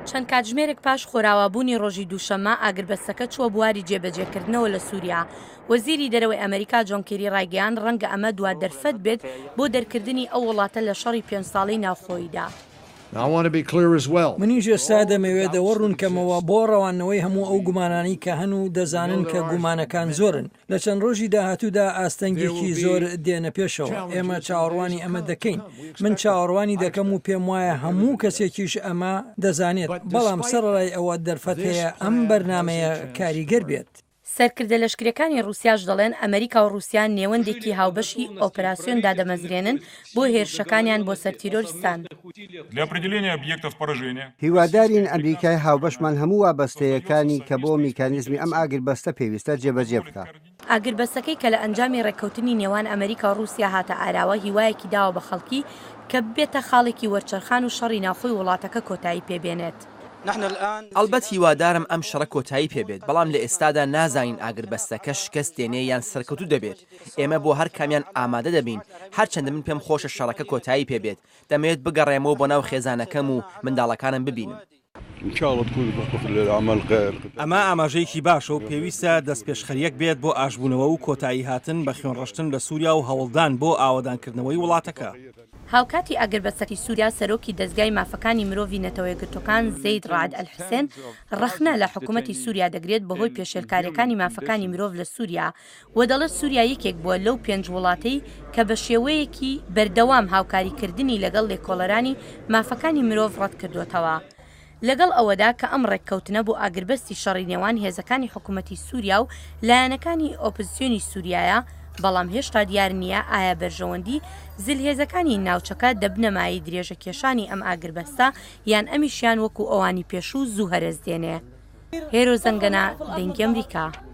چەند کاتژمێرێک پاش خۆراوابوونی ڕۆژی دووشەممە ئاگربەستەکە چووە بواری جێبەجێکردنەوە لە سووریا. وەزیری دەرەوەی ئەمەریکا جۆن کیری ڕایگەیاند ڕەنگە ئەمە دوا دەرفەت بێت بۆ دەرکردنی ئەو وڵاتە لە شەڕی پێنج ساڵەی ناوخۆییدا. منیش ئێستا دەمەوێت ئەوە ڕوونکەمەوە بۆ ڕەواندنەوەی هەموو ئەو گومانانەی کە هەن و دەزانن کە گومانەکان زۆرن لە چەند ڕۆژی داهاتوودا ئاستەنگێکی زۆر دێنە پێشەوە، ئێمە چاوەڕوانی ئەمە دەکەین، من چاوەڕوانی دەکەم و پێم وایە هەموو کەسێکیش ئەمە دەزانێت، بەڵام سەرەڕای ئەوە دەرفەت هەیە ئەم بەرنامەیە کاریگەر بێت. سەرکردە لەشکریەکانی ڕوسیاش دەڵێن ئەمەریکا و ڕوسیا نێوەندێکی هاوبەشی ئۆپراسیۆن دادەمەزرێنن بۆ هێرشەکانیان بۆ سەر تیرۆرستان. هیوادارین ئەمریکای هاوبەشمان هەموو وابەستەیەکانی کە بۆ میکانیزمی ئەم ئاگربەستە پێویستە جێبەجێ بکا. ئاگربەستەکەی کە لە ئەنجامی ڕێککەوتنی نێوان ئەمریکا و ڕووسیا هاتە ئاراوە هیوایەکی داوە بە خەڵکی کە ببێتە خاڵێکی وەرچەرخان و شەڕی ناوخۆی وڵاتەکە کۆتایی پێ بێنێت. ئەڵبەت هیوادارم ئەم شەڕە کۆتایی پێ بێت، بەڵام لە ئێستادا نازانین ئاگربەستەکە شکەست دێنێ یان سەرکەوتوو دەبێت، ئێمە بۆ هەر کامیان ئامادە دەبین، هەرچەندە من پێم خۆشە شەڕەکە کۆتایی پێ بێت، دەمەوێت بگەڕێمەوە بۆ ناو خێزانەکەم و منداڵەکانم ببینم. ئەمە ئاماژەیەکی باشە و پێویستە دەستپێشخەرییەک بێت بۆ ئاشبوونەوە و کۆتاییهاتن بە خوێنڕشتن لە سووریا و هەوڵدان بۆ ئاوەدانکردنەوەی وڵاتەکە. هاوکاتی ئاگربەستی سووریا، سەرۆکی دەزگای مافەکانی مرۆڤی نەتەوە یەکگرتووەکان زەید ڕەعد ئەلحسێن ڕەخنە لە حکومەتی سووریا دەگرێت بەهۆی پێشێلکارییەکانی مافەکانی مرۆڤ لە سووریا و دەڵێت سوریا یەکێک بووە لەو پێنج وڵاتەی کە بە شێوەیەکی بەردەوام هاوکاریکردنی لەگەڵ لێکۆڵەرانی مافەکانی مرۆڤ ڕەتکردووەتەوە لەگەڵ ئەوەدا کە ئەم ڕێککەوتنە بۆ ئاگربەستی شەڕی نێوان هێزەکانی حکومەتی سوریا و لایەنەکانی ئۆپزسیۆنی سوریایە بەڵام هێشتا دیار نییە ئایا بەرژەوەندی زلهێزەکانی ناوچەکە دەبنە مایەی درێژەکێشانی ئەم ئاگربەستە یان ئەمیشیان وەکو ئەوانی پێشوو زوو هەرەس دێنێ. هێرۆ زەنگەنە، دەنگی ئەمریکا.